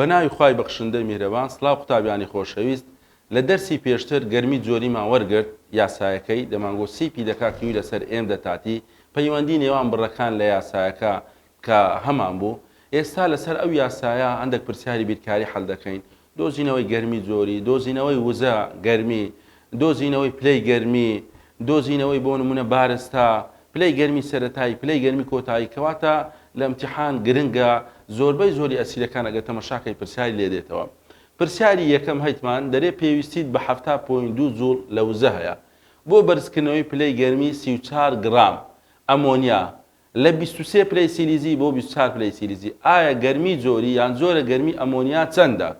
بەناوی خوای بەخشندەی میهرەبان سڵاو قوتابیانی خۆشەویست لە دەرسی پێشتر گەرمی جۆریمان وەرگرت یاسایەکەی دەمانگۆت سیپی دەکا کیوی لەسەر ئێندە تاتی پەیوەندی نێوان بڕەکان لە یاسایەکە کە هەمان بوو، ئێستا لەسەر ئەو یاسایە هەندێک پرسیاری بیرکاری حەل دەکەین، دۆزینەوەی گەرمی جۆری، دۆزینەوەی وزە، گەرمی، دۆزینەوەی پلەی گەرمی، دۆزینەوەی بۆ نموونە بارستا، پلەی گەرمی سەرەتایی، پلەی گەرمی کۆتایی، کەواتە لە ئیمتیحان گرنگە، زۆربەی زۆری ئەسیرەکان ئەگەر تەمەشا کەی پرسیاری لێ دێتەوە. پرسیاری یەکەم هەیتمان دەرێ پێویستیت بە حەفتا پۆینت دوو جوڵ لە وزە هەیە بۆ بەرزکردنەوەی پلەی گەرمی سی و چوار گڕام ئەمۆنیا، لە بیست و سێ پلەی سیلیزی بۆ بیست و چوار پلەی سیلیزی ئایا گەرمی جۆری یان جۆرە گەرمی ئەمۆنیا چەندە؟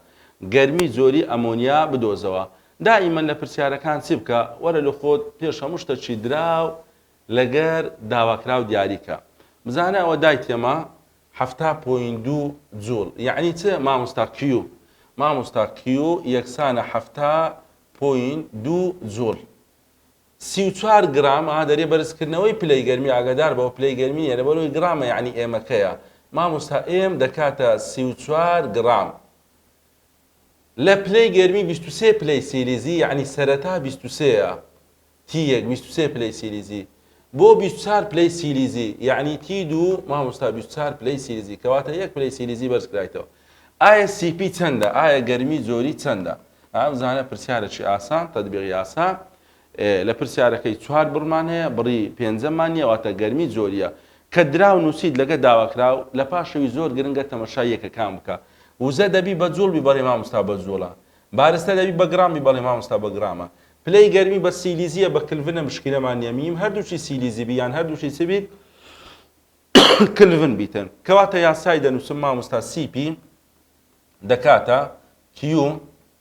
گەرمی جۆری ئەمۆنیا بدۆزەوە دائیمەن لە پرسیارەکان چی بکە وەرە لۆ خۆت پێش هەموو شتەکی دراو لەگەر داواکراو دیاری کە بزانە ئەوە دای تێما حەفتا پۆینت دوو جوول یەعنی چ مامۆستا کیو مامۆستا کیو یەکسانە حەفتا پۆینت دوو جوول سی و چوار گرام ها دەرێ بەرزکردنەوەی پلەی گەرمی ئاگادار بەوە پلەی گەرمی نیە لەبەرەوەی گرامە یعنی ئێمەکەیە مامۆستا ئێم دەکاتە سی و چوار گرام لە پلەی گەرمی بیست و سێ پلەی سیلیزی یعنی سەرەتا بیست و سێیە تی یەک بیست و سێ پلەی سیلیزی بۆ بیست و چوار پلەی سیلیزی یعنی تی دوو مامۆستا بیست و چوار پلەی سیلیزی کەواتە یەک پلەی سیلیزی بەرزکرایتەوە ئایە سی پی چەندە ئایە گەرمی زۆری چەندە ئەم زانە پرسیارەکی ئاسان تەدبیق یاسا لە پرسیارەکەی چوار بڕمان هەیە بڕی پێنجەمان نیە واتە گەرمی زۆریە کە دراو نووسیت لەگە داواکراو لە پاشەوی زۆر گرنگە تەمەشای یەکەکان بکە وزە دەبی بە جوڵ بی بەڵێ مامستا بە جوڵە بارستە دەبی بە گرام بی بەڵێ مامستا بە گرامە پلەی گەرمی بە سیلیزیە بە کلڤنە مشکلەمان نیە میم هەردووچی سیلیزی بی یان هەردووچی چ بیت کلڤن بیتن کەواتە یاسای دەنووسم مامۆستا سی پی دەکاتە کیو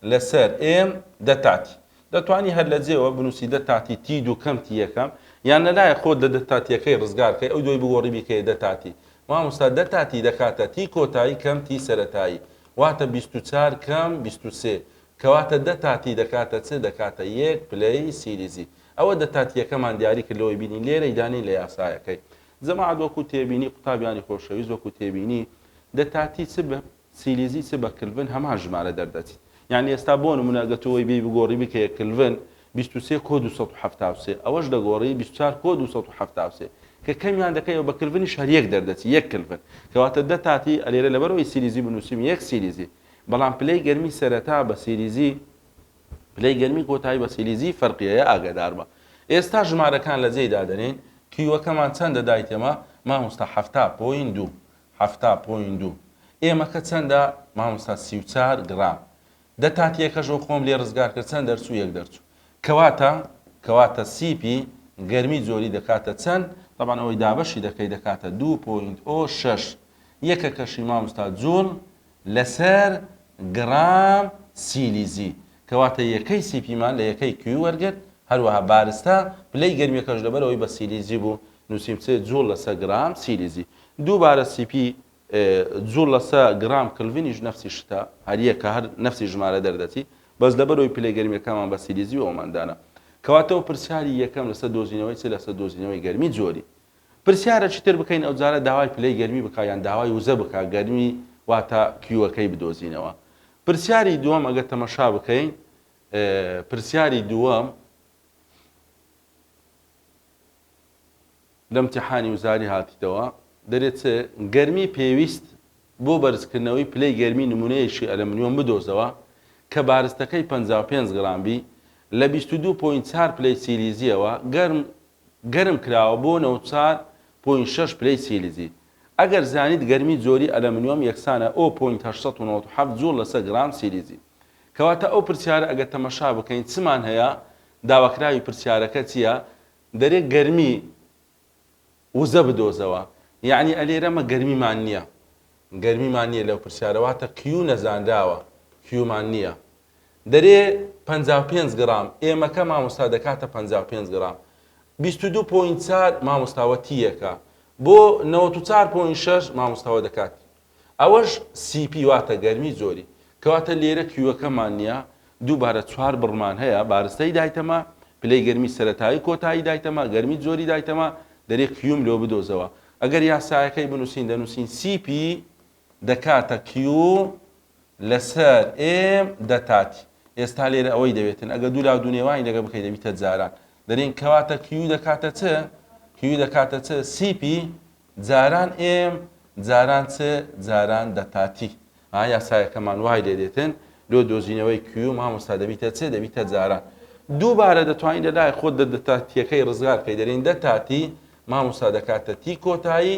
لەسەر ئێم دە تاتی دەتوانی هەر لە جێوە بنووسی دە تاتی تی دوو کەم تی یەکەم یان لەلایە خۆت لە دە تاتیەکەی ڕزگارکەی ئەو دوای بگۆڕی بیکەیە دە تاتی مامۆستا دە تاتی دەکاتە تی کۆتایی کەم تی سەتایی واتە 24 کەم 23 کەواتە دە تاتی دەکاتە چ دەکاتە یەک پلەی سیریزی ئەوە دە تاتیەکەمان دیاری کردەوەی بینی لێرەی دانی لە یاسایەکەی جەماعەت وەکو تێبینی قوتابیانی خۆشەویست وەکو تێبینی دە تاتی چ بە سیلیزی چ بە کلڤن هەمان ژمارە دەردەچیت یانی ئێستا بۆ نمونە گەر تۆ وەی بێی بگۆری بکەیە کلڤن بیست و سێ کۆ دوو سەد و حەفتا و سێ ئەوەش دەگۆری بیست و چوار کۆ دوو سەد و حەفتا و سێ کە کەمیان دەکەیەوە بە کلڤنیش هەر یەک دەردەچی یەک کلڤن کەواتە دە تاتی ئەلێرە لەبەرەوەی سیلیزی بنوسیم یەک سیلیزی بەڵام پلەی گەرمی سەرەتا بە سیلیزی پلەی گەرمی کۆتایی بە سیلیزی فەرقیەیە ئاگەداربە ئێستا ژمارەکان لە جێی دادەنێین کیوەکەمان چەندە دایتێمە ماموستا حەفتا پۆین دوو حەفتا پۆین دوو ئێمەکە چەندە ماموستا سی و چار گڕام دە تاتیەکەشەوە خۆم لێ ڕزگار کرد چەند دەرچوو یەک دەرچوو کەواتە کەواتە سیپی گەرمی جۆری دەکاتە چەند طبعا ئەوەی دابەشی دەکەی دەکاتە دوو پۆینت ئۆ شەش یەکەکەشی ماموستا جوڵ لەسەر گڕام سیلیزی، کەواتە یەکەی سیپیمان لە یەکەی کیو وەرگرت، هەروەها بارستا، پلەی گەرمییەکەش لەبەرئەوەی بە سیلیزی بوو، نووسیم سێ جووڵ لەسە گڕام سیلیزی. دووبارە سیپی، جووڵ لەسە گڕام کلڤنیش نەفسی شتە، هەر یەکە، هەر نەفسی ژمارە دەردەچی، بەس لەبەرئەوەی پلەی گەرمییەکانمان بە سیلیزی بوو ئەومان دانا. کەواتە پرسیاری یەکەم لەسەر دۆزینەوەی چ لەسەر دۆزینەوەی گەرمی جۆری. پرسیارە چیتر بکەین ئەوجارە داوای پلەی گەرمی بکە یان داوای وزە بکە گەرمی واتە کیوەکەی بدۆزینەوە پرسیاری دووەم ئەگەر تەمەشا بکەین پرسیاری دووەم لەم تیحانی وزاری هاتیتەوە دەرێت چ گەرمی پێویست بۆ بەرزکردنەوەی پلەی گەرمی نمونەیەکی ئەلەمنیۆم بدۆزەوە کە بارستەکەی 55 گرامبی لە 22.4 پلەی سیلیزیەوە گەرم گەرم کراوە بۆ نە و چار پۆینت شەش پلەی سیلیزی. ئەگەر زانیت گەرمی جۆری ئەلەمنیۆم یەکسانە ئۆ پۆینت هەشت سەد و نەوەد و حەفت جوڵ لەسەر گرام سیلیزی. کەواتە ئەو پرسیارە ئەگەر تەمەشا بکەین چمان هەیە داواکراوی پرسیارەکە چیە دەرێ گەرمی وزە بدۆزەوە یەعنی ئەلێرە مە گەرمیمان نیە گەرمیمان نیە لەو پرسیارە واتە کیو نەزانراوە کیومان نیە دەرێ پەنجا و پێنج گڕام ئێمەکە مامۆستا دەکاتە پەنجا و پێنج گڕام بیست و دوو پۆینت چار مامۆستا وە تی یەکە بۆ نەوەت و چار پۆینت شەش مامۆستا وە دەکات ئەوەش سی پی واتە گەرمی زۆری کەواتە لێرە کیوەکەمان نیە دووبارە چوار بڕمان هەیە بارستەی دایتەمە پلەی گەرمی سەرەتایی کۆتایی دایتەمە گەرمی زۆری دایتەمە دەرێ کیوم لۆ بدۆزەوە ئەگەر یاسایەکەی بنووسین دەنووسین سی پی دەکاتە کیو لەسەر ئێم دەتاتی ئێستا لێرە ئەوەی دەوێتن ئەگە دوو لا دوو نێوانی لەگە بکەی دەبیتە جاران دەرین کەواتە کیو دەکاتە چ کیو دەکاتە چ سیپی جاران ئێم جاران چ جاران دەتاتی ها یاسایەکەمان وای لێ دێتن لۆ دۆزینەوەی کیو مامۆستا دەبیتە چ دەبیتە جاران دووبارە دەتوانین لە لای خۆت دەتاتیەکەی ڕزگار بکەی دەرین دەتاتی مامۆستا دەکاتە تی کۆتایی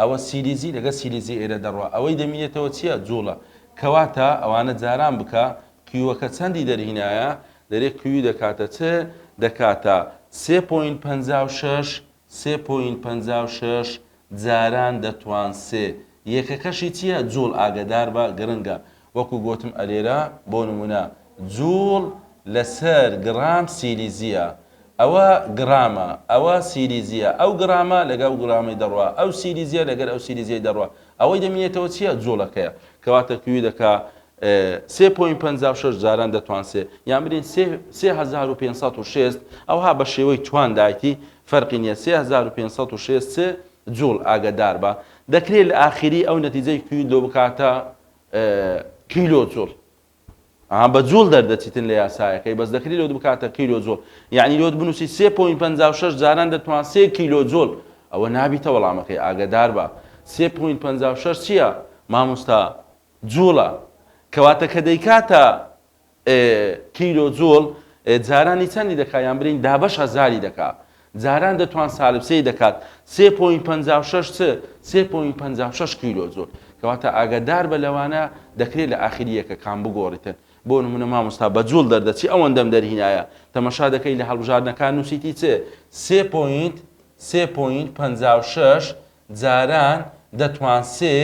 ئەوە سیلیزی لەگەل سیلیزی ئێرە دەڕوا ئەوەی دەمینێتەوە چیە جوڵە کەواتە ئەوانە جاران بکە قیوەکە چەندی دەرهینایە دەرێ قیوی دەکاتە چ دەکاتە سێ پۆینت پەنجا و شەش سێ پۆینت پەنجا و شەش جاران دەتوان سێ یەکەکەشی چیە جوڵ ئاگەداربە گرنگە وەکو گۆتم ئەلێرە بۆ نمونە جوڵ لەسەر گڕام سیلیزیە ئەوە گڕامە ئەوە سیلیزیە ئەو گڕامە لەگە ئەو گڕامەی دەڕوا ئەو سیلیزیە لەگەر ئەو سیلیزیەی دەڕوا ئەوەی دەمینێتەوە چیە جوڵەکەیە کەواتە کیو دەکا سێ پۆین پەنجا و شەش جاران دەتوان سێ یان برین سێ سێ هەزار و پێنج سەد و شێست ئەوها بە شێوەی توان دایتی فەرقی نیە سێ هەزار و پێنج سەد و شێست سێ جوڵ ئاگەدار بە دەکرێت لە ئاخیری ئەو نەتیجەی کیو لۆ بکاتە کیلۆ جوڵ ئەها بە جوڵ دەردەچیتن لە یاسایەکەی بەس دەکری لۆت بکاتە کیلۆ جوڵ یعنی لۆت بنووسی سێ پوین پ شش جاران دەتوان سێ کیلۆ جوڵ ئەوە نابیتە وەڵامەکەی ئاگدار بە سێ پوین پ شش چییە مامۆستا جوڵە کەواتە کە دەیکاتە کیلۆ جوڵ جارانی چەندی دەکا یان برین دابەش هەزاری دەکا جاران دەتوان سالب سێی دەکات سێ پۆین پەنجا و شەش چ سێ پۆین پەنجا و شەش کیلۆ جوڵ کەواتە ئاگادار بە لەوانە دەکرێت لە ئاخری یەکەکان بگۆڕیتن بۆ نمونە مامۆستا بە جوڵ دەردەچی ئەوەندەم دەرهینایە تەمەشا دەکەی لە هەڵبژاردنەکان نووسیتی چ سێ پۆینت سێ پۆینت پەنجا و شەش جاران دەتوان سێ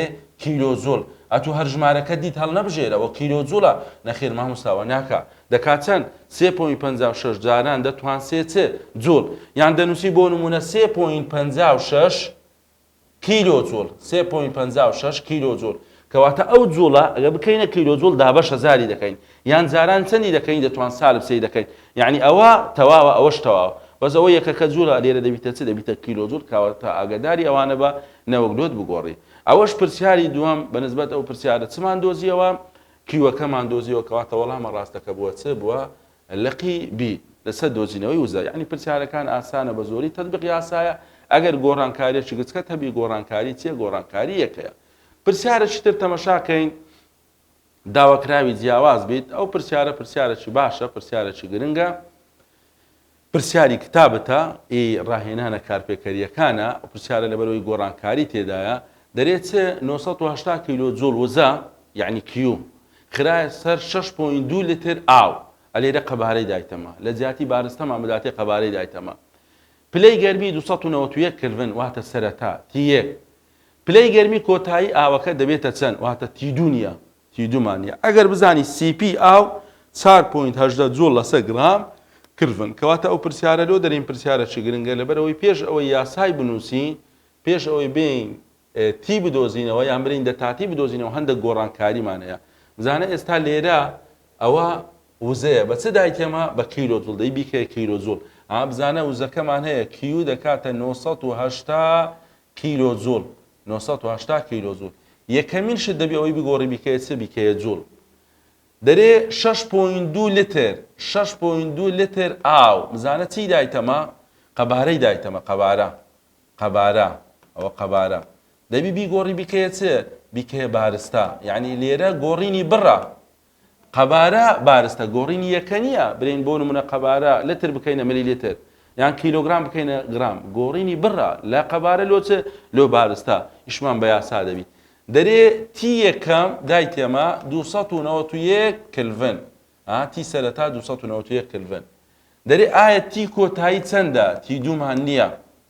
کیلۆ جوڵ. ئەتو هەر ژمارەکە دیت هەڵنەبژێرە وە کیلۆ جوڵە نەخێر ماموستا وەناکا دەکا چەن سێ پۆینت پەنجا و شەش جاران دەتوان سێ چ جوڵ یان دەنوسی بۆ نمونە سێ پۆینت پەنجا و شەش کیلۆ جوڵ سێ پۆینت پەنجا و شەش کیلۆ جوڵ کەواتە ئەو جوڵە ئەگەر بکەینە کیلۆ جوڵ دابەشە جاری دەکەین یان جاران چەندی دەکەین دەتوان سالب سێی دەکەین یانی ئەوە تەواوە ئەوەش تەواوە بەس ئەوە یەکەکە جوولە لێرە دەبیتە چ دەبیتە کیلۆجول کەواتە ئاگەداری ئەوانە بە نەوەک لۆت بگۆڕی ئەوەش پرسیاری دووەم بە نسبەت ئەو پرسیارە چمان دۆزیەوە کیوەکەمان دۆزیەوە کەواتە وەڵامە ڕاستەکە بووە چ بووە لقی بی لەسەر دۆزینەوەی وزە یعنی پرسیارەکان ئاسانە بە زۆری تەطبیق یاسایە ئەگەر گۆڕانکاریەکی گچکەت هەبی گۆڕانکاری چیە گۆڕانکاری یەکەیە پرسیارەکی تر تەمەشاکەین داواکراوی جیاواز بیت ئەو پرسیارە پرسیارەکی باشە پرسیارەکی گرنگە پرسیاری کتابتە ئی ڕاهێنانە کارپێکەریەکانە پرسیارە لەبەرەوەی گۆڕانکاری تێدایە دەرێ چ 980 کیلۆ جوڵ وزە یعنی کیو خراە سەر 6.2 لتر ئاو ئەلێرە قەبارەی دایتەمە لە جیاتی بارستەمان بداتێ قەبارەی دایتەمە پلەی گەرمی 291 کلڤن واتە سەرەتا تیەک پلەی گەرمی کۆتایی ئاوەکە دەبێتە چەند واتە تیدونیا تیدومانیا ئەگەر بزانی سی پی ئاو چوار پۆینت هەژدە جوڵ لەسەر گڕام کلڤن کەواتە ئەو پرسیارە لۆ دەرین پرسیارەکی گرنگە لەبەرئەوەی پێش ئەوەی یاسای بنووسین پێش ئەوەی بێین تی بدۆزینەوە یان برین دەتاتی بدۆزینەوە هەندێک گۆڕانکاریمان هەیە بزانە ئێستا لێرە ئەوە وزەیە بە چ دایکێمە بە کیلۆ جوڵ دەی بیکەیە کیلۆ جوڵ ئا بزانە وزەکەمان هەیە کیو دەکاتە 980 کیلۆ جوول، نۆ سەد و هەشتا کیلۆ جوول، یەکەمین شت دەبی ئەوەی بگۆڕی بیکەیە چ بیکەیە جوول دەرێ شەش پۆینت دوو لتر شەش پۆینت دوو لتر ئاو بزانە چی دایتەمە قەبارەی دایتەمە قەبارە قەبارە ئەوە قەبارە دەبی بیگۆڕی بیکەیە چ بیکەیە بارستا یعنی لێرە گۆڕینی بڕە قەبارە بارستە گۆڕینی یەکە نییە، برێین بۆ نموونە قەبارە لتر بکەینە ملیلیتر، یان کیلۆگرام بکەینە گرام، گۆڕینی بڕە لە قەبارە لۆ چ؟ لۆ بارستە، ئیشمان بە یاسا دەبیت. دەرێ تی یەکەم دای تێما دوو سەد و نەوەت و یەک کلڤن، ئا تی سەرەتا دوو سەد و نەوەت و یەک کلڤن. دەرێ ئایا تی کۆتایی چەندە؟ تی دوومان نییە،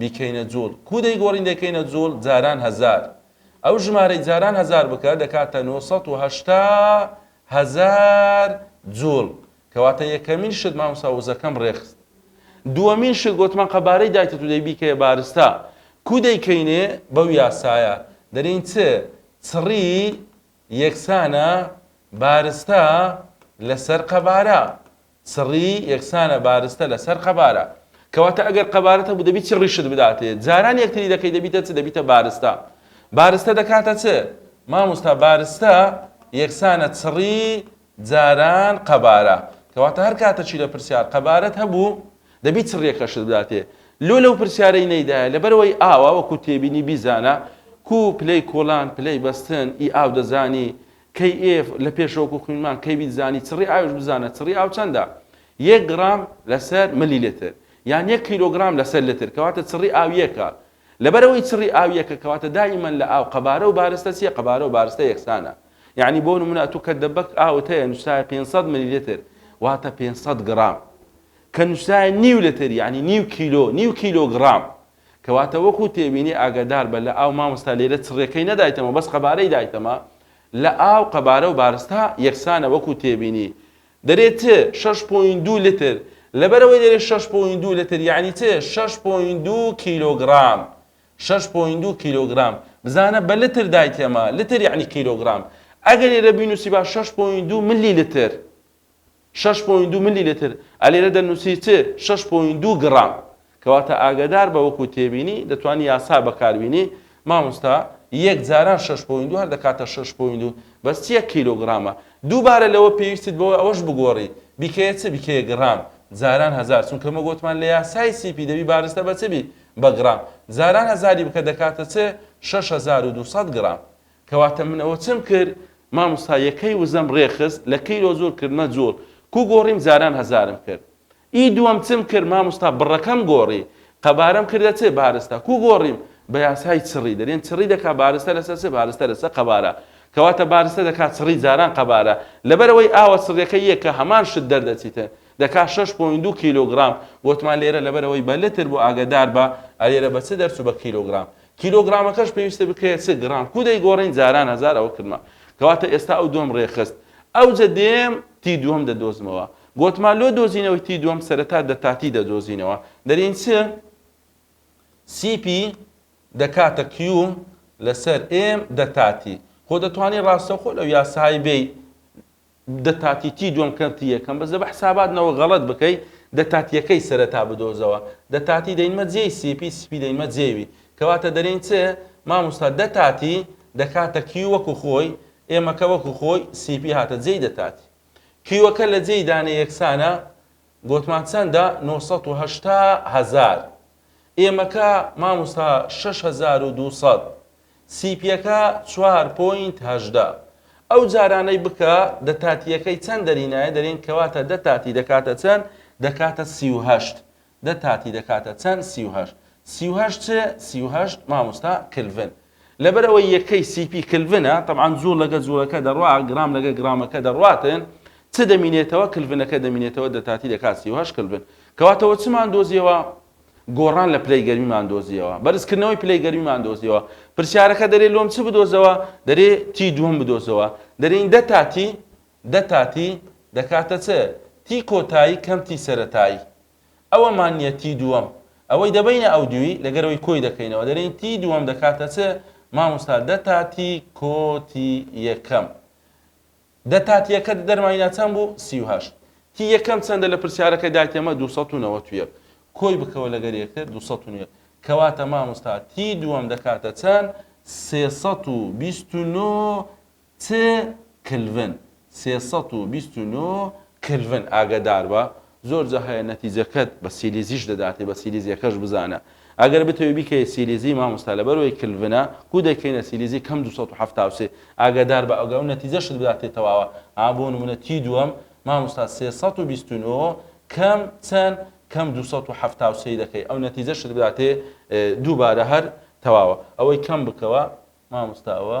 بیکەینە جوڵ کوو دەیگۆڕین دەیکەینە جوڵ جاران هەزار ئەو ژمارەی جاران هەزار بکە دەکاتە نۆ سەد و هەشتا هەزار جوڵ کەواتە یەکەمین شت مامۆستا وزەکەم ڕێکخست دووەمین شت گۆتمان قەبارەی دایتە تو دەی بیکەیە بارستا کوو دەیکەینێ بەو یاسایە دەرین چ چڕی یەکسانە بارستا لەسەر قەبارە سڕی یەکسانە بارستە لەسەر قەبارە. کەواتە ئەگەر قەبارەت هەبوو دەبی چ ڕیشت بداتێ؟ جاران یەکتری دەکەی دەبیتە چ؟ دەبیتە بارستە. بارستە دەکاتە چ؟ ماموستا بارستە یەکسانە چڕی جاران قەبارە. کەواتە هەر کاتە چی لە پرسیار قەبارەت هەبوو دەبی چڕیەکەشت بداتێ. لۆ لەو پرسیارەی نەیدایە لەبەرەوەی ئاوە وەکو تێبینی بیزانە کوو پلەی کۆڵان پلەی بەستن ی ئاو دەزانی KF، لە پێشەوە کو خوینمان کەی بیت زانی چڕی ئاویش بزانە چڕی ئاو چەندە یەک گڕام لەسەر ملی لتر یان یەک کیلۆگرام لەسەر لتر کەواتە چڕی ئاو یەکە لەبەرەوەی چڕی ئاو یەکە کەواتە دائیمەن لە ئاو قەبارە و بارستە چیە قەبارە و بارستە یەکسانە یعنی بۆ نمونە ئەتوو کە دەبەک ئاوت هەیە نووسراوە 500 ملی لتر واتە 500 گڕام کە نووسراوە نیو لتر یعنی نیو کیلۆ نیو کیلۆگرام کەواتە وەکو تێبینی ئاگەدار بە لە ئاو مامۆستا لێرە چڕێکەی نەدایتەمە بەس قەبارەی دایتەمە لە ئاو قەبارە و بارستا یەکسانە وەکو تێبینی دەرێ چ شەش پۆین دوو لتر لەبەرەوەی دەرێ شەش پۆین دوو لتر یعنی چ شەش پۆین دوو کیلۆگرام شەش پۆین دوو کیلۆگرام بزانە بە لتر دایتەمە لتر یعنی کیلۆگرام ئەگەر لێرە بینوسی با شەش پۆین دوو ملی لتر شەش پۆینت دوو ملی لتر، ئا لێرە دەنووسی چ؟ شەش پۆینت دوو گڕام. کەواتە ئاگەدار بە وەکو تێبینی، دەتوانی یاسا بەکاربینی، مامۆستا یەک جاران شەش پۆینت دوو هەر دەکاتە شەش پۆینت دوو بەس چیە کیلۆگڕامە. دووبارە لەوە پێویستت بەوە ئەوەش بگۆڕی بیکەیە چ؟ بیکەیە گڕام. جاران هەزار چونکە مە گۆتمان لە یاسای سی پی دەبی بارستە بە چ بی؟ بە گڕام. جاران هەزاری بکە دەکاتە چ؟ شەش هەزار و دوو سەد گڕام. کەواتە من ئەوە چم کرد ماموستا یەکەی وزەم رێ خست لە کیلۆ زور کردمە جوڵ کو گۆڕیم جاران هەزارم کرد ی دوەم چم کرد ماموستا بڕەکەم گۆڕی قەبارەم کردە چ بارستە کو گۆڕیم بە یاسای چڕی دەرێن چڕی دەکا بارستە لەسەر چ بارستە لەسەر قەبارە کەواتە بارستە دەکا چڕی جاران قەبارە لەبەرئەوەی ئاوە چڕیەکەی یەکە هەمان شت دەردەچیتن دەکا شەش پۆینت دوو کیلۆگڕام گۆتمان لێرە لەبەرئەوەی بە لتر بو ئاگەداربە ئەلێرە بە چ دەرچو بە کیلۆگڕام کیلۆگرامەکەش پێویستە بکرێت چ گڕام کو دەیگۆڕین جاران هەزار ئەوە کردمە کەواتە ئێستا ئەو دووەم ڕێکخست ئەوجە دێم تی دووەم دەدۆزمەوە گۆتمان لۆ دۆزینەوەی تی دووەم سەرەتا دەتاتی دەدۆزینەوە دەرین چ سی پی دەکاتە کیو لەسەر ئێم دەتاتی خۆ دەتوانانی ڕاستەوخۆ لەو یاسای بێی دە تاتی تی دوەم کەر تی یەکەم بەس دە بە حسابات نە وە غەڵەت بکەی دە تاتی یەکەی سەرە تا بدۆزە وە دە تاتی دە ینمە جێی سی پی سی پی دە ینمە جێ وی کە واتە دە رین چ ماموستا دە تاتی دە کاتە کیو وە کو خۆی ئێ مە کە وە کو خۆی سی پی هاتە جێی دە تاتی کیوە کە لە جێی دانێ یەکسانە گۆتمان چەندە نۆ سەد و هەشتا هەزار ئێمەکە ماموستا شەش هەزار و دوو سەد سیپیەکە چوار پۆینت هەژدە ئەو جارانەی بکە دە تاتیەکەی چەن دەرینایە دەرین کەواتە دە تاتی دەکاتە چەن دەکاتە سی و هەشت دە تاتی دەکاتە چەن سی و هەشت سی و هەشت چ سی و هەشت ماموستا کلڤن لەبەر ئەوەی یەکەی سی پی کلڤنە، تەبعەن جووڵ لەگە جووڵەکە دەڕوا، گرام لەگە گرامەکە دەڕواتن، چ دەمینێتەوە؟ کلڤنەکە دەمینێتەوە دەتاتی دەکات سی و هەشت کلڤن. کەواتەوە چمان دۆزیەوە؟ گۆڕان لە پلەی گەرمیمان دۆزیەوە. بەرزکردنەوەی پلەی گەرمیمان دۆزیەوە. پرسیارەکە دەرێ لۆم چ بدۆزەوە؟ دەرێ تی دووەم بدۆزەوە. دەرێین دە تا تی، دە تا تی دەکاتە چ؟ تی کۆتایی کەم تی سەرەتایی. ئەوە مانییە تی دووەم ئەوەی دەبەینە ئەو دووی لەگەرەوەی کۆی دەکەینەوە دەرێین تی دووەم دەکاتە چ ماموستا دە تا تی کۆ تی یەکەم دە تا تیەکە دەرماینا چەند بوو سی و هەشت تی یەکەم چەندە لە پرسیارەکە دایتەمە دوو سەد و نەوەت و یەک کۆی بکەوە لەگەر یەکتر دوو سەد و نوێ کەواتە ماموستا تی دووەم دەکاتە چەند سێ سەد و بیست و نۆ چ کلڤن؟ سێ سەد و بیست و نۆ کلڤن ئاگەداربە زۆر جا هەیە نەتیجەکەت بە سیلیزیش دەداتێ بە سیلیزیەکەش بزانە ئەگەر بتەوێ بیکەیە سیلیزی مامۆستا لەبەرئەوەی کلڤنە کو دەیکەینە سیلیزی کەم دوو سەد و حەفتا و سێ ئاگەداربە ئەگەر نەتیجەشت بداتێ تەواوە ئا بۆ نمونە تی دووەم مامۆستا سێ سەد و بیست و نۆ کەم چەن کەم دوو سەد و حەفتا و سێ دەکەی ئەو نەتیجەشت بداتێ دووبارە هەر تەواوە ئەوەی کەم بکەوە مامۆستا ئەوە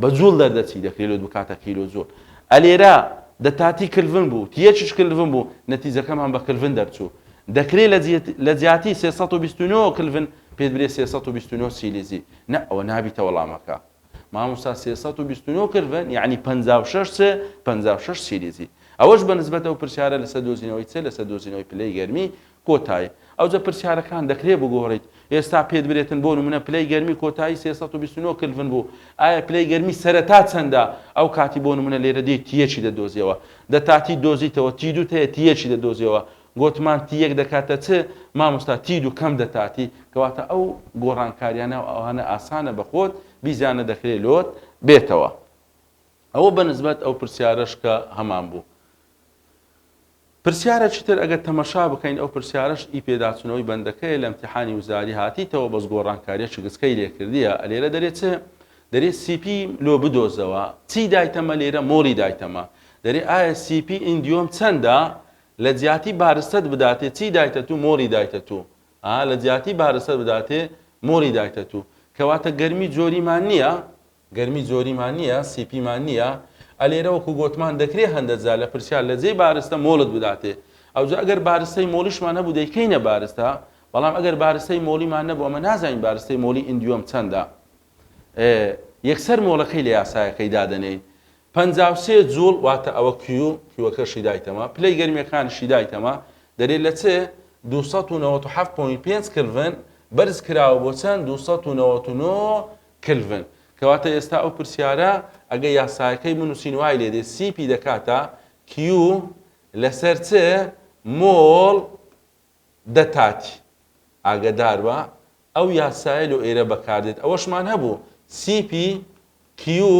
بە جوڵ دەردەچی دە کیلۆت بکاتە کیلۆ جوڵ ئە لێرە دە تاتی کلڤن بوو تیە چش کلڤن بوو نەتیجەکەم هەم بە کلڤن دەرچوو دەکرێت لە جیاتی سێ سەد و بیست و نۆ کلڤن پێت برێ سێ سەد و بیست و نۆ سیلیزی نە ئەوە نابیتە وەڵامەکە مامۆستا سێ سەد و بیست و نۆ کلڤن یعنی پەنجا و شەش چ پەنجا و شەش سیلیزی ئەوەش بە نسبەتەوە پرسیارە لەسەر دۆزینەوەی چ لەسەر دۆزینەوەی پلەی گەرمی کۆتایی. ئەوجە پرسیارەکان دەکرێت بگۆڕیت ئێستا پێت برێتن بۆ نمونە پلەی گەرمی کۆتایی سێ سەد و بیست و نۆ کلڤن بوو ئایا پلەی گەرمی سەرەتا چەندە ئەو کاتی بۆ نمونە لێرە دێی تی یەکی دەدۆزیەوە دە تا تی دۆزیتەوە تی دووت هەیە تی یەکی دەدۆزیەوە گۆتمان تی یەک دەکاتە چ مامۆستا تی دوو کەم دە تا تی کەواتە ئەو گۆڕانکاریانە و ئەوانە ئاسانە بە خۆت بیزانە دەکرێت لۆت بێتەوە ئەوە بە نسبەت ئەو پرسیارەش کە هەمان بوو. پرسیارەکی تر ئەگەر تەمەشا بکەین ئەو پرسیارەش ئی پێداچونەوەی بەندەکەیە لە امتیحانی وزاری هاتیتەوە بەس گۆڕانکاریە شگسکەی لێ کردیە ئەلێرە دەرێ چ دەرێ سی پی لۆ بدۆزەوە چی دایتەمە لێرە مۆڵی دایتەمە دەرێ ئایا سی پی ئیندیۆم چەندە لە جیاتی بارستەت بداتێ چی دایتە تو مۆڵی دایتە تو ئا لە جیاتی بارستەت بداتێ مۆڵی دایتە تو کەواتە گەرمی جۆریمان نیە گەرمی زۆریمان نیە سیپیمان نیە ئەلێرە وەکو گۆتمان دەکرێ هەندە جار لە پرسیار لە جێی بارستە مۆڵت بداتێ ئەوجا ئەگەر بارستەی مۆڵیشمان هەبوو دەیکەینە بارستە بەڵام ئەگەر بارستەی مۆڵیمان نەبوو ئەمە نازانین بارستەی مۆڵی ئیندیۆم چەندە ئێ یەکسەر مۆڵەکەی لە یاسایەکەی دادەنێین پەنجا و سێ جوڵ واتە ئەوە کیو کیوەکەشی دایتەمە پلەی گەرمیەکانیشی دایتەمە دەرێ لە چێ دوو سەد و نەوەت و حەفت پۆین پێنج کلڤن بەرز کراوە بۆ چەند دوو سەد و نەوەت و نۆ کلڤن، کەواتە ئێستا ئەو پرسیارە ئەگەر یاسایەکەی بنووسین وای لێ دێ سی پی دەکاتە کیو لەسەر چ مۆڵ دە تاتی ئاگەدار بە ئەو یاسایە لۆ ئێرە بەکاردێت ئەوەشمان هەبوو سی پی کیو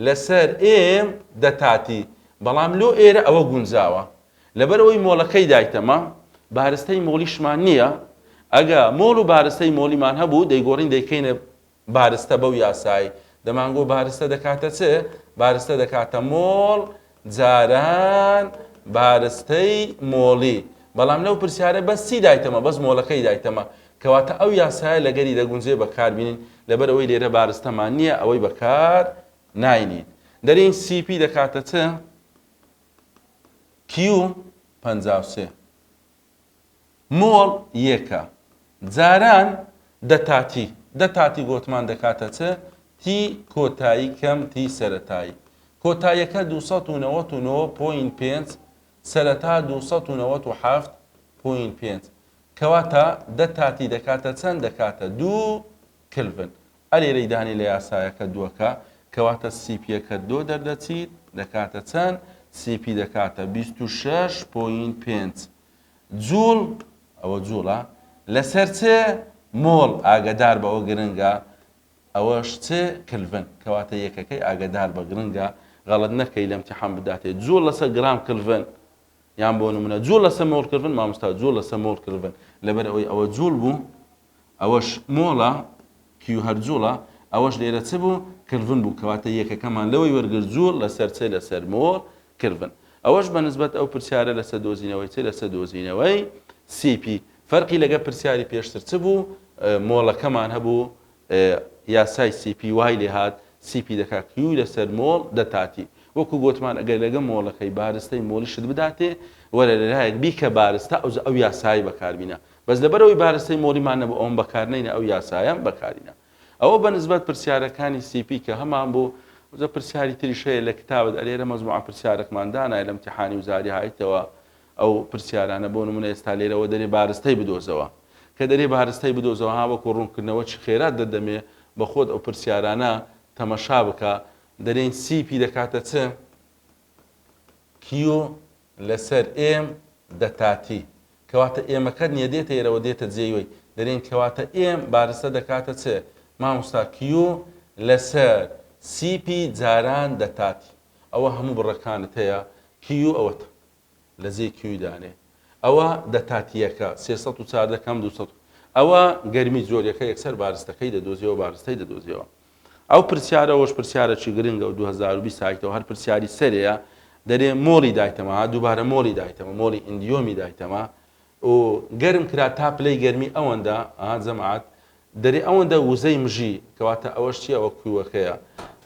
لەسەر ئێم دەتاتی بەڵام لۆ ئێرە ئەوە گونجاوە لەبەر ئەوەی مۆڵەکەی دایتەمە بارستەی مۆڵیشمان نییە ئەگە مۆڵ و بارستەی مۆڵیمان هەبوو دەیگۆڕین دەیکەینە بارستە بەو یاسای دەمانگۆ بارستە دەکاتە چ بارستە دەکاتە مۆڵ جاران بارستەی مۆڵی بەڵام لەو پرسیارە بەس چی دایتەمە بەس مۆڵەکەی دایتەمە کەواتە ئەو یاسایە لەگەری دەگونجێ بەکاربین لەبەر ئەوەی لێرە بارستەمان نییە ئەوەی بەکار ناینین دەرین سیپی دەکاتە چ کیو پەنجا سێ مۆڵ یەکە جاران دە تاتی دە تاتی گۆتمان دەکاتە چ تی کۆتایی کەم تی سەرەتایی کۆتایەکە دوو سەد و نەوەت و نۆ پۆین پێنج سەرەتا دوو سەد و نەوەت و حەفت پۆین پێنج کەواتە دە تاتی دەکاتە چەند دەکاتە دوو کلڤن ئەرێرەی دانێ لە یاسایەکە دۆکە، کەواتە سی پییەکە دۆ دەردەچیت دەکاتە چەند؟ سی پی دەکاتە بیست و شەش پۆینت پێنج جووڵ، ئەوە جووڵە، لەسەر چ؟ مۆڵ، ئاگەدار بە ئەوە گرنگە ئەوەش چ؟ کلڤن، کەواتە یەکەکەی ئاگەدار بە گرنگە، غەڵەت نەکەی لە ئیمتیحان بداتێ جووڵ لەسەر گرام کلڤن، یان بۆ نموونە جووڵ لەسەر مۆڵ کلڤن، مامۆستا جووڵ لەسەر مۆڵ کلڤن، لەبەر ئەوەی ئەوە جووڵ بوو ئەوەش مۆڵە کیو هەر جوڵە ئەوەش لێرە چ بوو کلڤن بوو کەواتە یەکەکەمان لەوەی وەرگرت جوڵ لەسەر چ لەسەر مۆڵ کلڤن ئەوەش بە نسبەت ئەو پرسیارە لەسەر دۆزینەوەی چ لەسەر دۆزینەوەی سی پی فەرقی لەگە پرسیاری پێشتر چ بوو مۆڵەکەمان هەبوو یاسای سی پی وای لێ هات سی پی دەکا کیو لەسەر مۆڵ دەتاتی وەکو گوتمان ئەگەر لەگە مۆڵەکەی بارستەی مۆڵیشت بداتێ وەرە لەلایەک بیکە بارستە ئەوجە ئەو یاسایی بەکاربینە بەس لەبەرئەوەی بارستەی مۆریمان نەبوو ئەوم بەکارنەینە ئەو یاسایەم بەکارینا ئەوە بەنسبەت پرسیارەکانی سی پی کە هەمان بوو وزە پرسیاری تریش هەیە لە کتابت ئەلێرە مەزموعە پرسیارەکمان دانای لە امتحانی وزاری هایتەوە ئەو پرسیارانە بۆ نمونە ئێستا لێرەوە دەرێ بارستەی بدۆزەوە کە دەرێ بارستەی بدۆزەوە ها وەکو ڕوونکردنەوە چ خێرات دەدەمێ بە خۆت ئەو پرسیارانە تەمەشا بکە دەرێن سی پی دەکاتە چ کیو لەسەر، ئێم، دە تاتی، کەواتە ئێمەکە نیە دێتە ئێرەوە دێتە جێی وەی دەرێین کەواتە ئێم بارستە دەکاتە چ ماموستا کیو لەسەر سیپی جاران دە تاتی ئەوە هەموو بڕەکانت هەیە کیو ئەوەتە لە جێی کیوی دانێ ئەوە دە تاتیەکە سێ سەد و چاردە کەم دوو سەد ئەوە گەرمی جۆریەکە یەکسەر بارستەکەی دەدۆزیەوە بارستەی دەدۆزیەوە ئەو پرسیارە ئەوەش پرسیارەکی گرنگە و دوو هەزار و بیست هایتەوە هەر پرسیاری سەرەیە دەرێ مۆڵی دایتەمە ها دووبارە مۆڵی دایتەمە مۆڵی ئیندیۆمی دایتەمە و گەرم کرا تا پلەی گەرمی ئەوەندە ها جەماعەت دەرێ ئەوەندە وزەی مژی کەواتە ئەوەش چیە ئەوە کویوەکەیە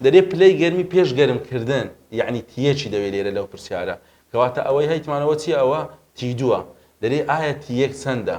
دەرێ پلەی گەرمی پێش گەرم کردن یعنی تیەکی دەوێ لێرە لەو پرسیارە کەواتە ئەوەی هەیتمانەوە چیە ئەوە تی دووە دەرێ ئایا تی یەک چەندە